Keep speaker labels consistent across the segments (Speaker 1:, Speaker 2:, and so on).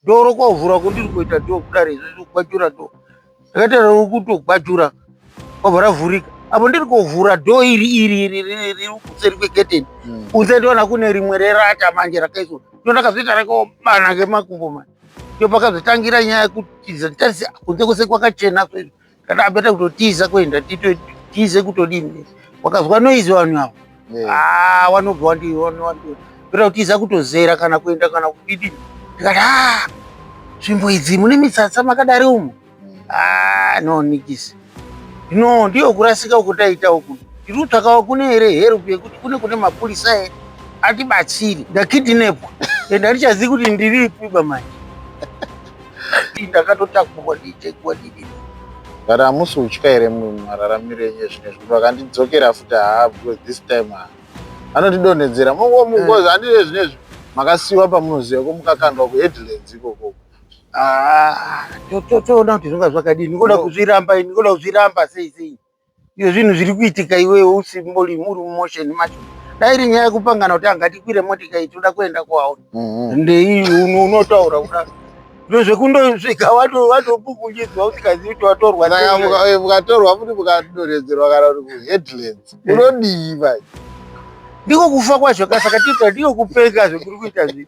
Speaker 1: doro kwavhura kundiri kuita do kudari izvezvi kugwajura do ndakatarira uri kutogwajura kwabva ravhurika apo ndiri kuvhura do iri iri iri riri riri kuseri kweketeni Mm. kunze ndiona kune rimwe rerata manje rakaiswa ndo ndakazoita rakobana ngemakumbo manje ndo pakazotangira nyaya yekutiza nditarise kunze kwese kwakachena so izvi Kana abeta kutotiza kuenda titotize kutodini. Wakazwa noise vanhu avo. Ah, wanobva wandi wanobva. Beta kutiza kutozera kana kuenda kana kudini. Ndikati ah, nzvimbo idzi mune mitsatsa makadari umu. Mm. Ah, no nikisi. No, ndiyo kurasika ukutaita uku. Tiri kutsvakawo kune here help yekuti kune kune mapurisa here atibatsiri ndakidinepwa ende handichazivi kuti ndiripi bamai ndakatotakurwa ndichekwa didini but hamusi
Speaker 2: kutya here mararamiro enyu ezvino zvekuti vakandidzokera futi haa because this time ha anotidonhedzera mongomukozi eh. handizve zvino izvi makasiyiwa pamunoziva ko mukakandwa kuheadlands ikokoko ah,
Speaker 1: toona kuti zvonga zvakadii ndikoda kuzviramba ini ndikoda kuzviramba sei sei Iyo zvinhu zviri kuitika iwewe usimbori muri mumotion macho. Dai iri nyaya yekupangana kuti angatikwire motika iyi toda kuenda kwawo. Mhm. Ndei unotaura kuda. Zvino zvekundosvika wato watopukunyiswa usikazivi kuti watorwa. Saka muka- eh, mukatorwa
Speaker 2: futi mukadonhedzerwa kana kuti kuheadlands unodii manje Ndiko
Speaker 1: kufa kwacho ka saka tita ndiko kupenga zvekuri kuita zvii.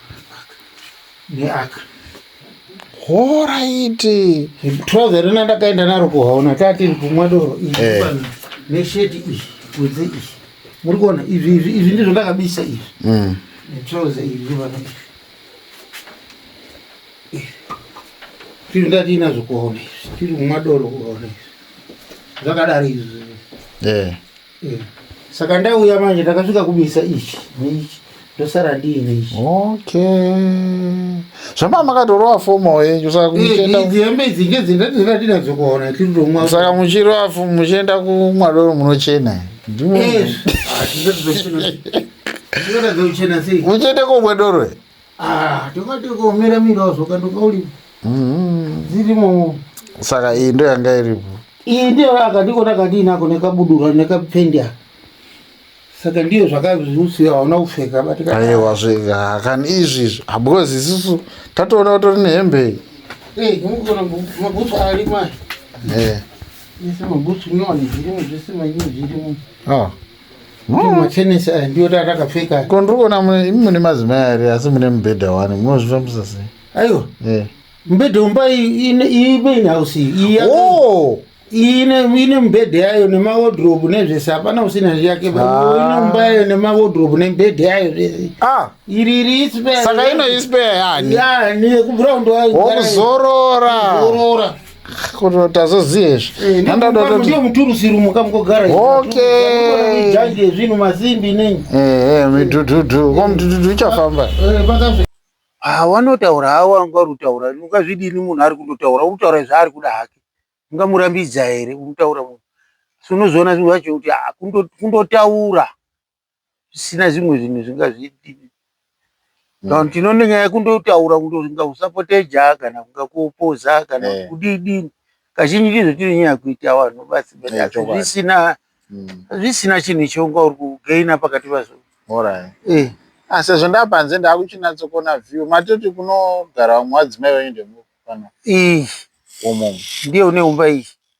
Speaker 1: neaka horaiti
Speaker 2: trouser rina
Speaker 1: ndakaenda naro kuhaona tatiri kumwa doro eh. nesheti iyi kunze iyi muri kuona izvi izvi izvi ndizvo ndakabisa izvi mm. netrouser iri rivana tiri ndatiinazvo kuhaona izvi tiri kumwa doro kuhaona izvi zvakadaro izvi eh. Eh, saka ndauya manje ndakasvika kubisa ichi neichi ndosara ndiine ichi okay
Speaker 2: zvamama makatorova fomo yenyu saka Eh, kumuchenda idzi hembe idzi
Speaker 1: ngedzindatinadzo kuona tiritomwa saka muchirova fo-
Speaker 2: muchienda kumwadoro munochena Ndimo- Eh, ah, tinotadza kuchena sei? Tinotadza kuchena sei muchienda komwadoro Ah, tokati
Speaker 1: ukaomera mirawo zvoka ndokauli mm-hmm. dzirimo saka
Speaker 2: iyi ndo yanga iripo iyi ndiyo
Speaker 1: akandikona kandiinako nekabudura nekapfendi aka saka ndiyo zvakazviusiya hauna kupfeka bataiwa zvega
Speaker 2: kani izvi izvi because isusu tatoona kutori nehembe iyi eh, mabhutsu arimo aya eh. ese
Speaker 1: mabhutsu nyowani zvirimo zvese manyini zvirimo ah. machenesi aya ndiyo tatakapfeka ko ndiri kuona mune-
Speaker 2: imi mune madzimai ari asi mune mubhedha wani munozvifambisa sei aiwa Eh.
Speaker 1: mubhedha umba imain house iyi yaka- Oh! ine ine mubhedha yayo nemawodrobe nezvese hapana usina yake ine Ah. umba yayo nemawodrobe nemubhedha yayo zvese Ah, iri iri ispe saka inoispeya
Speaker 2: yani ya nekubround wayo
Speaker 1: wokuzorora zorora
Speaker 2: Kono tazoziye izvi. Eh, ne- Handada mukambo kuti ndiyo
Speaker 1: muturusi rumo kamugogara Okay. janje zvinhu masimbi nei eh eh midhudhudhu.
Speaker 2: Ko mudhudhudhu ichafamba. Eh, pakazvi- Ah, wanotaura
Speaker 1: hawo anga uri kutaura ungazvidini munhu ari kundotaura uri kutaura zvaari kuda hake ungamurambidza here unotaura munhu so unozoona zvinhu zvacho kuti ah, kundo- kundotaura zvisina zvimwe zvinhu zvingazviitire saka tinoona nyaya kundotaura kundoringa kusapote jaa kana kunga kuopoza kana Eh. kudidini kazhinji ndizvo tiri nyaya kuita vanhu basi but Eh, asi chokwadi. zvisina Mm. zvisina chinhu chaunga uri kugaina pakati pazvo Alright. Eh,
Speaker 2: Ah, sezvo ndapanze ndakuchinatsokuona view matoti kunogara vamwe vadzimai vaende mu- pano ii umu ndiyo neumba
Speaker 1: iyi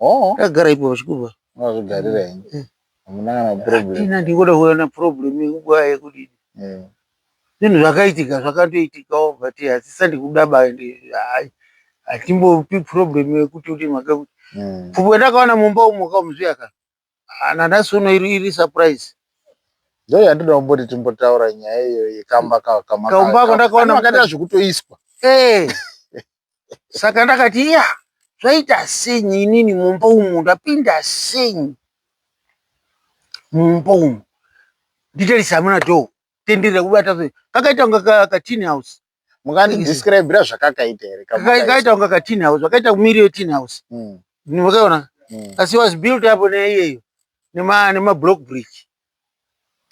Speaker 1: Oh. Ndagara ipo pachikupa. Unozvigarira ini.
Speaker 2: Eh. Hamuna kana problem. Ina ndingoda kuuya na problem
Speaker 1: yekuba yekudini. Eh. Zvinhu zvakaitika zvakandoitikawo but hasisa ndikuda ba hayi. Hatimbopi problem yekuti kuti maka kuti. Mm. Pfupi ndakawana mumba umo ka muzviya ka. nanhasi uno iri iri surprise Ndoyo
Speaker 2: yandinoda kumboti timbotaura nyaya iyoyo yekamba ka- kama- Kaumba ka- ako ka- ndakaona
Speaker 1: ano akaita kuti- zvekutoiswa
Speaker 2: Eh.
Speaker 1: saka ndakati iya zvaita senyi inini mumba umu ndapinda senyi mumba umu nditarise hamuna dho tenderera kubata fe- kakaita kunga ka- katini house Mukandi describira
Speaker 2: zvakakaita here? Kakaita kunga ka tin
Speaker 1: house, zvakaita kumiri ye tin house. Mm. Makaona? Mm. Asi was built up neiyeyo nema nema block brick.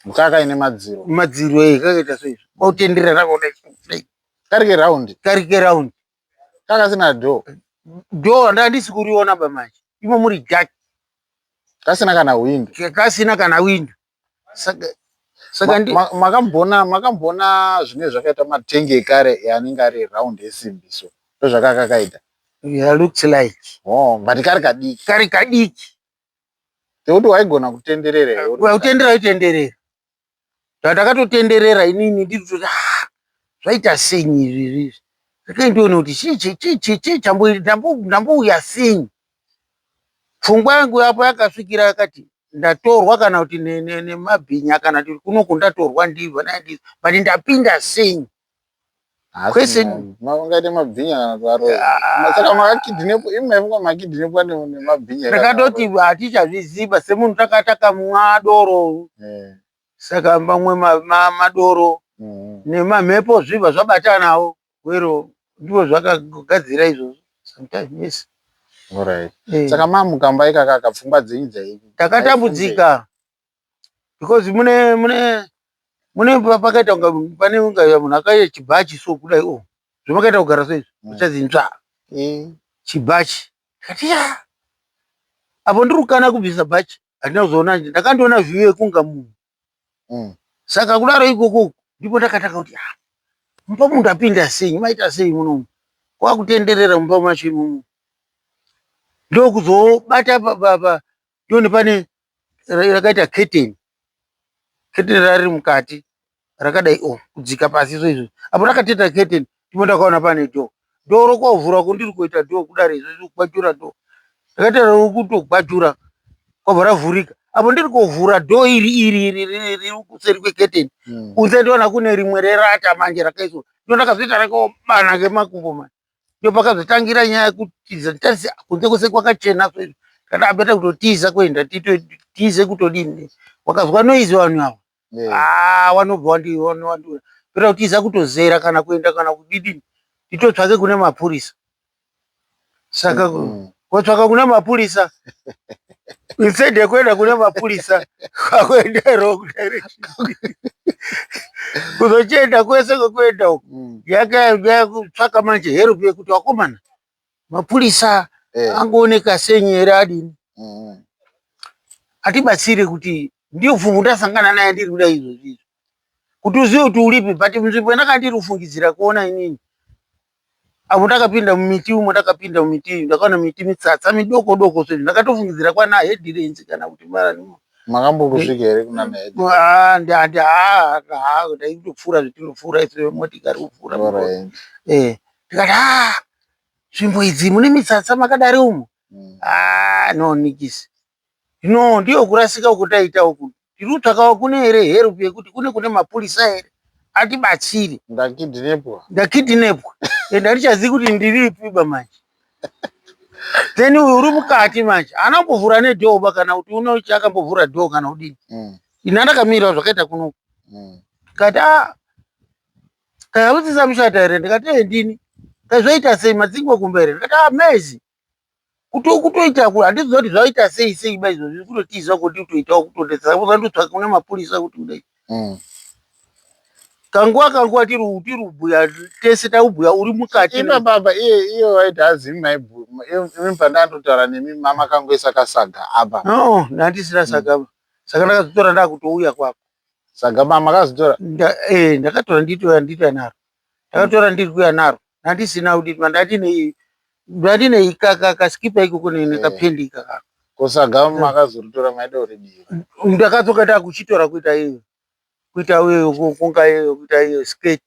Speaker 2: Mukaka ine madziro. Madziro eh kakaita
Speaker 1: so izvo. Kwautendera rako dai. Karike round.
Speaker 2: Karike round. Kaka sina door. Door
Speaker 1: ndandisi kuriona ba manje. Imo muri dark. Kasina
Speaker 2: kana window. Kasina kana window. Saka saka ndi Ma- ma- makambona makambona zvinenge zvakaita matenge ekare anenge ari round esimbi so ndozvakanga kakaita yeah, looks
Speaker 1: like oh but kari
Speaker 2: kadiki kari kadiki tekuti waigona kutenderera iwe uri Well, kutendera itenderera
Speaker 1: zvatakatotenderera inini ndiri kuti "Ah, zvaita senyi izvi izvi zvakaindiona kuti chii chii chii chii chii chambo- ndambo- ndambouya senyi Pfungwa yangu apo yakasvikira yakati ndatorwa kana kuti nemabhinya kana kuti kunoku ndatorwa ndivo but ndapinda sei
Speaker 2: maungaite mabhinya kana kuvaroasaka ah. makakidhinepo imaifunga makidhinepa nemabhinya ndakatoti
Speaker 1: hatichazviziva semunhu taka takamwa doro eh. saka mamwe madoro mm-hmm. nemamhepo zviva zvabatanawo Gwero ndivo zvakagadzira izvozvo sometimes yes. Alright.
Speaker 2: Eh. Saka mamu kamba ikaka ka pfungwa dzenyu dzai. Takatambudzika
Speaker 1: because mune mune mune pakaita unga pane unga munhu akaita chibhachi so kudai oh zvamakaita kugara so izvi Mm. uchadzi nzva Eh. chibhachi ndikati ya apo ndiri kukana kubvisa bhachi handina kuzoona nje ndakandiona view yekunga munhu mm. saka kudaro ikoko ndipo ndakatanga kuti ah, mumba munhu ndapinda sei maita sei munomu kwakutenderera mumba macho imomo ndokuzobata pa- pa- pa- ndoni pane ra- rakaita keteni keteni rari mukati rakadai o kudzika pasi so izvo apo rakateta keteni ndipo ndakaona pane door door rokovhura kundiri kuita door kudari izvezvi kugwajura door ndakaita rokutogwajura kwabva ravhurika apo ndiri kuvhura door iri iri iri iri riri kuseri kweketeni Mm. kunze ndiona kune rimwe rerata manje rakaiswa ndo ndakazoita rakobana kemakumbo manje ndo pakazotangira nyaya yekutiza nditasi kunze kwese kwakachena so izvi ndakati abeta kutotiza kuenda tito- tize kutodini wakazwa noizi vanhu ava wanobva wandiwandiura pera kutiza kutozera kana kuenda kana kudidini nditotsvake kune mapurisa saka mm -hmm. kotsvaka kune mapurisa instead yekuenda kune mapurisa kwakuenda wrong direction kuzochienda kwese kwekuenda uku mm. yakatsvaka manje help yekuti wakomana mapurisa eh. angooneka senyi here adini mm. atibatsire kuti ndiyo pfumvu ndasangana naye ndiri kuda izvozvi izvo kuti uzive kuti uripi but nzvimbo yandaka ndiri kufungidzira kuona inini avo ndakapinda mumiti umo ndakapinda mumiti iyi ndakaona miti mitsatsa midoko doko so ndakatofungidzira kwana hedirenzi kana kuti maranimo makambongosvika
Speaker 2: here kuna ndaitopfuura
Speaker 1: zvetinopfuura isu motikari kupfuura eh tikati haa nzvimbo idzi mune mitsatsa makadari umu mm. haa no nikisi no ndiyo kurasika uko taita uku tiri kutsvakawo kune here herp yekuti kune kune mapurisa here atibatsiri ndakidinepwa ndakidinepwa and handichazivi kuti ndiripi ba manje then uyu uri mukati manje haana kumbovhura nedhoo ba kana kuti unochi akambovhura dhoo kana kudini mm. ini andakamirawo zvakaita kunoku mm. kati a ah, Kaya kuti samushata here ndikati ee ndini kaya zvaita sei madzingo kumba here ndikati ah maizi kuti ukutoita ku handiziva kuti zvaita sei sei ba izvozvi zviri kutotiza kuti utoitawo kutondetsa ukandotsvaka kuna mapurisa kuti kudai Mm. kanguva kanguva tiri u- tiri kubhuya tese takubhuya uri mukati Ino baba iye
Speaker 2: iye waiti hazimi maibhu imi pandandotaura nemi mama kangoisa kasaga apa No, ndandisina
Speaker 1: saka saka ndakazotora ndakutouya kwako Saga mama
Speaker 2: makazitora? Nda, eh, ndakatora
Speaker 1: nditoya nditoya naro. Ndakatora ndiri kuya naro. Ndandisina kuti ndandine ndandine ikaka kasikipa ikoko ne nekapendi eh. ikaka. Ko saga eh.
Speaker 2: makazoritora maida uridira. Ndakadzoka
Speaker 1: ndakuchitora kuita iyo. Kuita iyo kunga iyo kuita iyo skirt.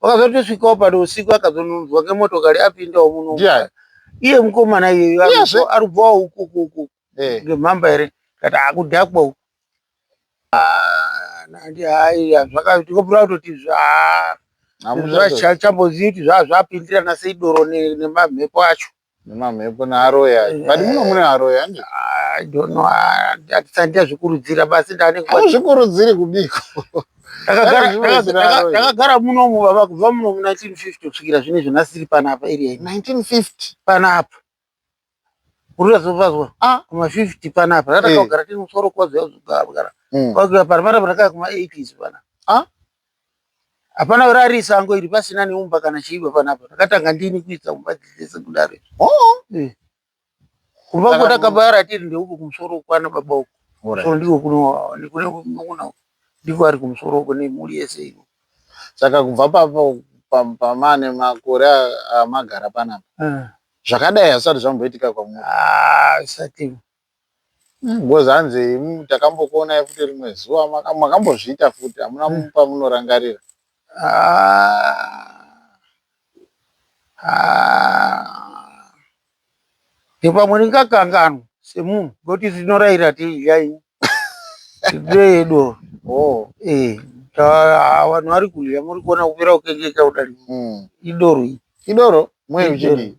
Speaker 1: wakazotosvikawo pano usiku akazononzwa kemotokari apindawo muno Ndiani? iye mukomana iyeyo Yes, aribva- eh. aribvawo uku uku uku Eh. ngemhamba here kati akudhakwa uku Ah, nandi hayi zvakatikombura kutoti zva Hamuchazoti. zvachambozivi kuti zvaa zvapindirana sei doro ne- nemamhepo acho nemamhepo
Speaker 2: nearoya but muno mune aroya ande I don't know hatisati
Speaker 1: ndazvikurudzira basi ndanenge hazvikurudziri
Speaker 2: kubiko ndakagara
Speaker 1: munomu baba kubva muno mu 1950 kusvikira zvine izvo nasiri panapa area 1950
Speaker 2: panapa
Speaker 1: urizazovazwa a ah, kuma 50 panapa ratakagara eh. tiri musoro kwazoyazogara kwakuya mm. panapa rakaa kuma 80s pana a ah? Hapana kurari sango iri pasina neumba kana chaiva panapa. Ndakatanga ndini kuisa kumba dzese kudaro. Oh, eh. Kumba uko takabara tiri ndeuko kumusoro kwana baba uko. So ndiko kuno kune kuno ndiko ari kumusoro uko nemhuri yese iyo. Saka kubva
Speaker 2: papo pamane makore amagara panapa. Eh. Zvakadai hazvisati zvamboitika kwamuri. Ah, zvisati. Because hanzi imi takambokuonai futi rimwe zuva maka- makambozviita futi hamuna Mm. pamunorangarira Ah.
Speaker 1: Ah. ndipamwe ndingakanganwa semunhu ngoti tinorayira tiiyaini tidoyedo oh Eh, ta- vanhu vari kudya muri kuona kupera kukengeka kudari mm. idoro iri idoro mwe Idoro. uchidii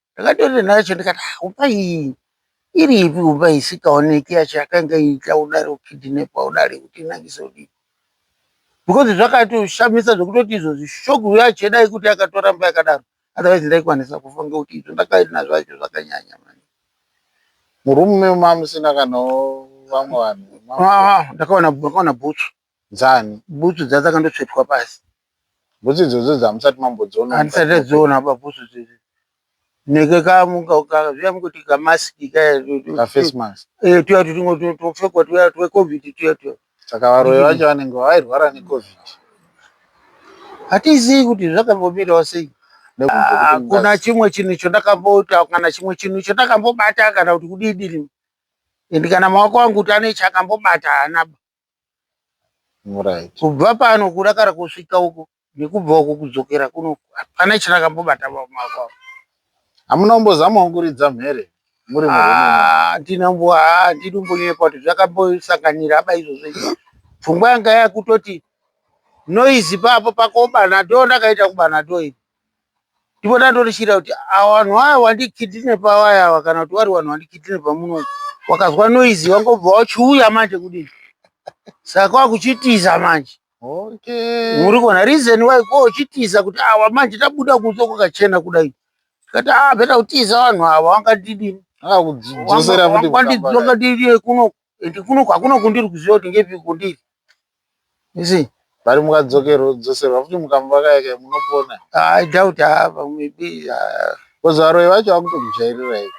Speaker 1: Ndakatorira nhare yacho ndikati ah upa iyi iripi upa isikaoneki yacho yakanga iita kudari kukidhinepa kudari kuti inakise kudii because zvakatoshamisa zvekutoti izvo zvishogu yacho dai kuti yakatoramba yakadaro otherwise ndaikwanisa kufa ngekuti izvo ndakaina zvacho zvakanyanya mani
Speaker 2: murume mamusina kana vamwe vanhu ah, ah, ndakaona
Speaker 1: ndakaona bhutsu Dzani.
Speaker 2: Bhutsu dza dzakandotsvetwa
Speaker 1: pasi. Bhutsu idzodzo
Speaker 2: dzamusati mambodziona. Handisati ndadziona apa
Speaker 1: bhutsu idzodzo. Neke ka muka ka zviya mukoti ka mask ka. Ka face
Speaker 2: mask. Eh tuya tutingo
Speaker 1: topfekwa tuya twe covid tuya tuya. Saka varoyi vacho
Speaker 2: vanenge vairwara ne covid. Hatizivi
Speaker 1: kuti zvakambomirawo sei. Hakuna ah, chimwe chinhu chandakambota kana chimwe chinhu chandakambobata kana kuti kudidiri. Ende kana maoko angu kuti ane chakambobata haana. Right. kubva pano kudakara kusvika uko nekubva uko kudzokera kuno hapana chandakambobata pamaoko apo hamuna
Speaker 2: kumbozamawo kuridza mhere muri murume Ah, handina mbo ah, handidi
Speaker 1: kumbonyepa kuti zvakambosanganira apa izvozvo izvi pfungwa yanga yakutoti noizi papo pakobana do ndakaita kubana do ipo ndipo ndandorishira kuti awa vanhu vaya wandikidine pawaya awa kana kuti wari vanhu wandikidine pamuno wakazwa noizi wangobva wachiuya manje kudini saka kwakuchitiza manje okay muri kuona reason why ko uchitiza kuti awa manje tabuda kunze kwakachena kudai tikati ah beta kutiza vanhu awa wangandidini akudzosera futi kukamba. wangandidzoka didie kuno ende kuno kwakuno kundiri kuziva kuti ngepi kundiri isi bari
Speaker 2: mukadzokerwa kudzoserwa futi mukamba
Speaker 1: kayaka
Speaker 2: munopona
Speaker 1: i
Speaker 2: doubt hava maybe bcoz varoyi vacho vakutomujairirai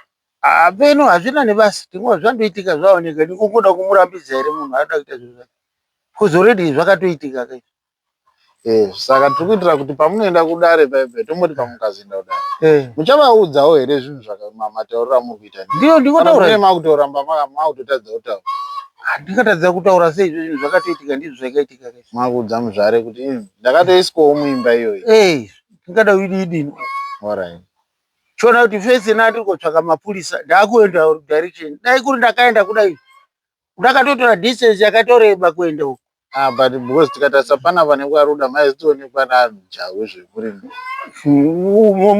Speaker 2: hapeno
Speaker 1: hazvina nebasa tinguva zvandoitika zvaoneka nikukuda kumurambidza here munhu aida kuita zvinhu zvake bcoz already zvakatoitika kaizvo Yes
Speaker 2: saka tiri kuitira kuti pamunoenda kudare paye paye tomboti pamukazoenda kudare eh. muchavaudzawo here zvinhu zvakamatauriro amuri kuita ndiyo ndingotaura
Speaker 1: makutoramba
Speaker 2: makutotadza kutaura handingatadza
Speaker 1: kutaura sei izvo zvinhu zvakatoitika ndizvo zvaikaitika ke makuudza muzvare kuti
Speaker 2: hmm, ndakatoiswawo muimba iyoyi eh, ndingada ididini
Speaker 1: orit
Speaker 2: chiona
Speaker 1: kuti fese na ndiri kotsvaka mapurisa ndaakuenda direction dai kuri ndakaenda kudai Ndakatotora distance yakatoreba kuenda uko. Ah, but because
Speaker 2: tikatarisa pana vanenge varuda maizotoonekwa najahu zvekuri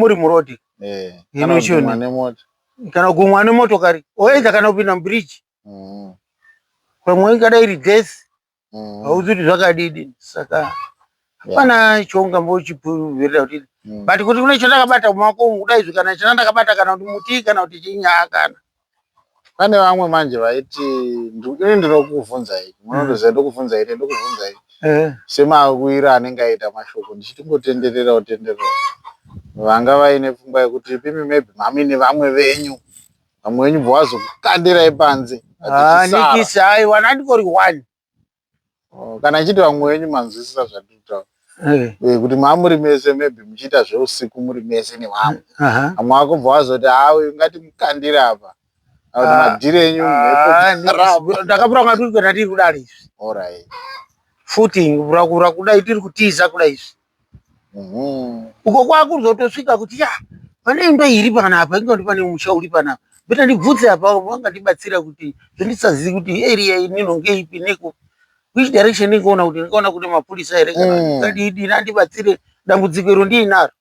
Speaker 1: muri murodi eh, inogumwa
Speaker 2: nemota kana kugumwa
Speaker 1: nemotokari oedza kana kupinda mubridge mm. pamwe ingadai iri gesi mm. hauzi kuti zvakadidi saka hapana yeah. choungambochipuverera kuti mm. but kuti kune chandakabata mumaoko umu kuda izvi kana chana ndakabata kana kuti muti kana kuti chinyaa kana pane
Speaker 2: vamwe manje vaiti ini ndinokubvunzai munondoziva mm. ndokubvunza ite ndokubvunza ite eh. semawira anenge aita mashoko ndichitingotenderera utenderera vanga vaine pfungwa yekuti pimi maybe mami nevamwe venyu Vamwe wenyu bva wazokukandirai panze. Ah, nikisi
Speaker 1: hayi wani andingori wani. Oh,
Speaker 2: kana ichiti vamwe wenyu manzwisisa zvandiri kutaura. Eh. Eh, kuti mamuri mese maybe muchiita zveusiku muri mese nevamwe. Vamwe vako bva wazoti haa ah, uyu ngati mukandire apa. Kuti ah. madhiri enyu
Speaker 1: ndakapura kunga tiri kuenda tiri kudari izvi. Alright.
Speaker 2: Footing,
Speaker 1: kura kuda tiri kutiza kuda izvi. Mhm. uko kwakuzotosvika kuti ya pane imba iri panapa inga kuti pane musha uri panapa beta ndibvunze apa vangandibatsira kuti zvendisazivi kuti area inino ngeipi neko which direction ndingaona kuti ndingaona kune mapurisa here kana Mm. ndingadidini andibatsire dambudziko iro ndiinaro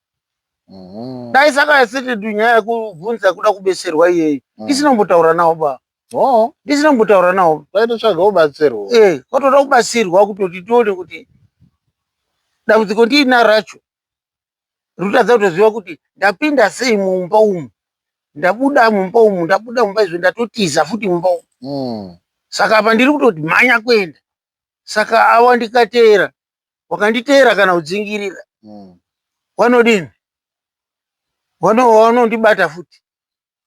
Speaker 1: Mhm. dai saka yasete nyaya yekubvunza kuda kubeserwa iyeyi Mm. isinombotaura navo baba no ndisina kumbotaura nawo vaitotsvaga kubatsirwa
Speaker 2: eh kwatoda kubatsirwa
Speaker 1: kutoti tione kuti dambudziko ndiina racho rikutadza kutoziva kuti ndapinda sei mumba umu ndabuda mumba umu ndabuda mumba izvo ndatotiza futi mumba umu Mm. saka apa ndiri kutoti mhanya kuenda saka awa ndikateera wakanditeera kana kudzingirira Mm. wanodini Wano- wanondibata futi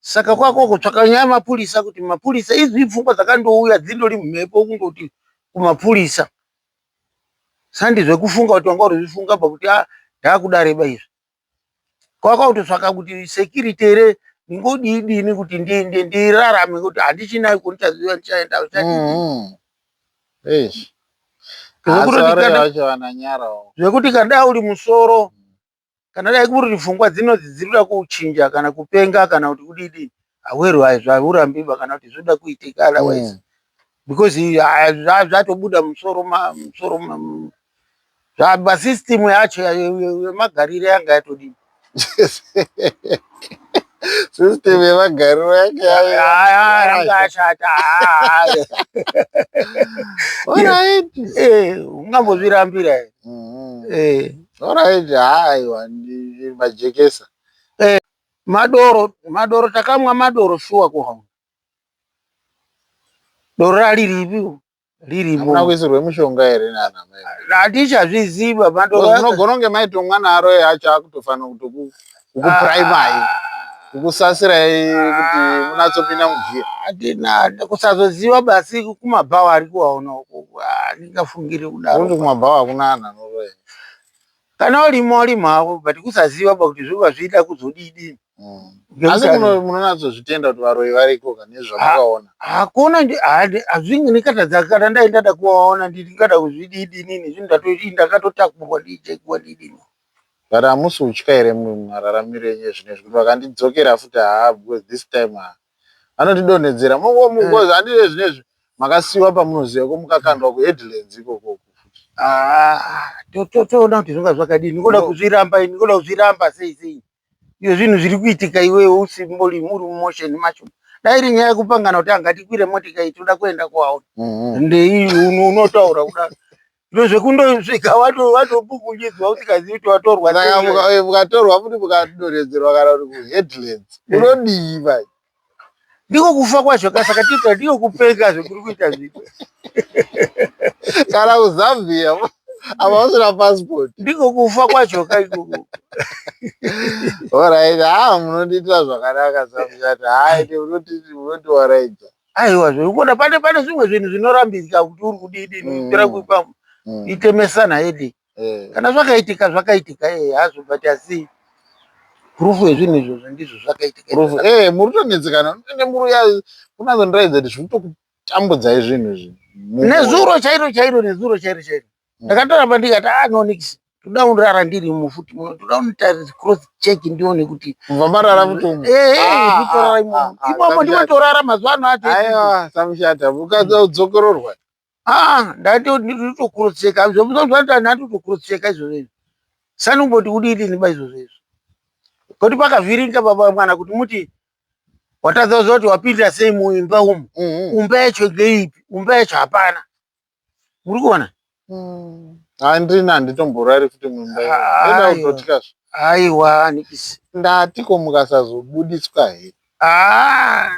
Speaker 1: Saka kwako kutsvaka nyaya mapurisa kuti mapurisa izvi pfungwa dzakandouya dzindori mhepo kundoti kumapurisa sandi zvekufunga kuti wanga urizvifunga pa kuti ah ndakudareba izvi kwaka kutotsvaka kuti security here ndingodii dini kuti ndirarame kuti handichinayo kundichaziva ndichaenda mm-hmm. zvekuti kana uri musoro kana dai kuri kuti pfungwa dzinodzi dziri kuda kuchinja kana kupenga kana kuti kudidii aweru aizvo haurambiba kana kuti zvoda kuitika otherwise mm. because ah, zvatobuda musoro musoro zvaba system yacho yemagarire yanga yatodii
Speaker 2: system yemagariro yake yayashata
Speaker 1: ungambozvirambira here Alright,
Speaker 2: haiwa ndi- majekesa. Madoro,
Speaker 1: madoro takamwa madoro shuwa ko hauna. Doro rariripi? Hamuna Ririmo. kuisirwe mushonga
Speaker 2: here nana mai? Hatichazviziva
Speaker 1: madoro. Because aka- munogona kunge maitomwa
Speaker 2: naro acho akutofanira kutoku kukupuraimai ah. kukusasirai kuti munatsopinda mugiya atina
Speaker 1: kusazoziva basi kumabhawa ari kuwaona andingafungiri kudarokuti kumabhawa hakuna anhu
Speaker 2: anoroya kana
Speaker 1: urimo urimo hako but kusaziva ba kuti zvoba zviida kuzodidi hmm.
Speaker 2: asi munonatsozvitenda kuti varoyi variko ka nezvamakaona hakuna
Speaker 1: hazvinge ndikatadza kana ndaindada kuvaona ndingada kuzvididi nini zvinhu ndatoii ndakatotakurwa ndiichekuwa didini But hamusi
Speaker 2: kutya here mararamiro enyu ezvinezvi kuti vakandidzokera futi haa because this time haa vanondidonhedzera because eh. handii zvinezvi makasiiwa pamunoziva ko mukakandwa kuheadlands ikoko ah,
Speaker 1: toona kuti zvinga zvakadii ndikoda kuzviramba ini ndikoda kuzviramba sei sei Iyo zvinhu zviri kuitika iwewe usimbori muri mumotion macho. Dai iri nyaya yekupangana kuti anga tikwire motika iyi tinoda kuenda kwauri. Mm-hmm. Ndei unotaura kudaro. Zviro zvekundosvika watopukunyidzwa usikazivi kuti watorwa. Saka mukatorwa
Speaker 2: futi mukadonhedzerwa kana kuti kuheadlands. Eh. Unodii vai? ndiko
Speaker 1: kufa kwacho ka saka tita ndiko kupenga zvekuri kuita zviko kana
Speaker 2: kuzambia ava vasina passport ndiko kufa kwacho
Speaker 1: ka ikoko orit
Speaker 2: ha ah, munondiitira zvakanaka samshati haiti munotiwaraidza aiwa zvekuona
Speaker 1: pane pane zvimwe zvinhu zvinorambidza kuti uri kudidini mm. kuitira kuipa mm. itemesana yedi eh. kana zvakaitika zvakaitika eh, hazvo but asi proof yezvinhu izvozvo ndizvo zvakaitika eh, muri tonetsekana
Speaker 2: ende muri ya kunazondiratidza kuti zviri tokutambudzai zvinhu izvi nezuro chairo
Speaker 1: chairo nezuro chairo chairo hmm. ndakatoramba ndikati ah no nix toda undirara ndiri mufuti muno toda unitarisa cross check ndione kuti kubva marara mutomu
Speaker 2: eh, ah, itorara ah,
Speaker 1: imomo ah, imomo ndimotorara mazuva ano acho aiwa samushata
Speaker 2: ukadza udzokororwa Ah,
Speaker 1: ndatitokurutseka zvomuzoaanatotokurutseka izvozvo izvo sani kumboti kudii tiniba izvozvo izvo koti pakavhiringa baba mwana kuti muti watadza kuziva kuti wapinda sei muimba umu mm-hmm. umba yacho ngeipi umba yacho hapana muri kuona mm. handina
Speaker 2: handitomborari futi muimbaaiwa
Speaker 1: nikisi ndatiko
Speaker 2: mukasazobuditswa here Ah.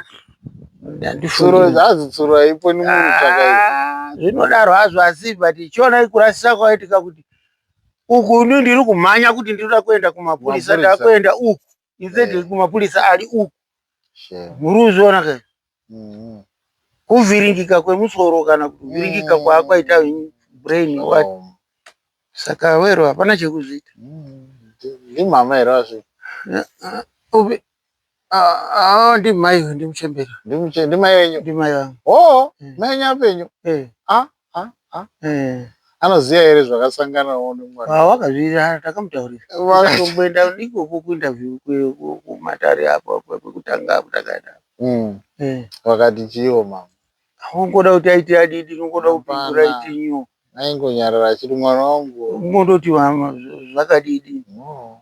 Speaker 2: Tsuro haipo ni munhu chakaipa. Ah, zvinodaro hazvo
Speaker 1: asi but chiona ikurasisa kwaitika kuti uku ni ndiri kumhanya kuti ndiri kuenda kumapurisa ndiri kuenda uku instead yeah. kumapurisa ari uku muri kuzviona ka mm-hmm. kuvhiringika kwemusoro kana kuvhiringika mm. kwaakwaita brain what saka wero hapana chekuzviita mm.
Speaker 2: ndimama here azvi
Speaker 1: Ah, ah, ndi mai ndi muchembera. Ndi muche ndi mai wenyu.
Speaker 2: Ndi mai wangu. Oh, eh.
Speaker 1: mai wenyu apenyu.
Speaker 2: Eh. Ah, ah, ah. Eh. Anoziva here zvakasangana one mwana. Ah, wakazvira
Speaker 1: takamutaurira. Wakamboenda ndiko ku interview ku matare apo kwekutanga kutakaenda. Mm. Eh.
Speaker 2: Wakati chiwo mama. Ungoda kuti
Speaker 1: aite adidi, ungoda kupindura iti nyu. Aingonyarara achiri
Speaker 2: mwana wangu. Ungondoti mama
Speaker 1: zvakadidi. No.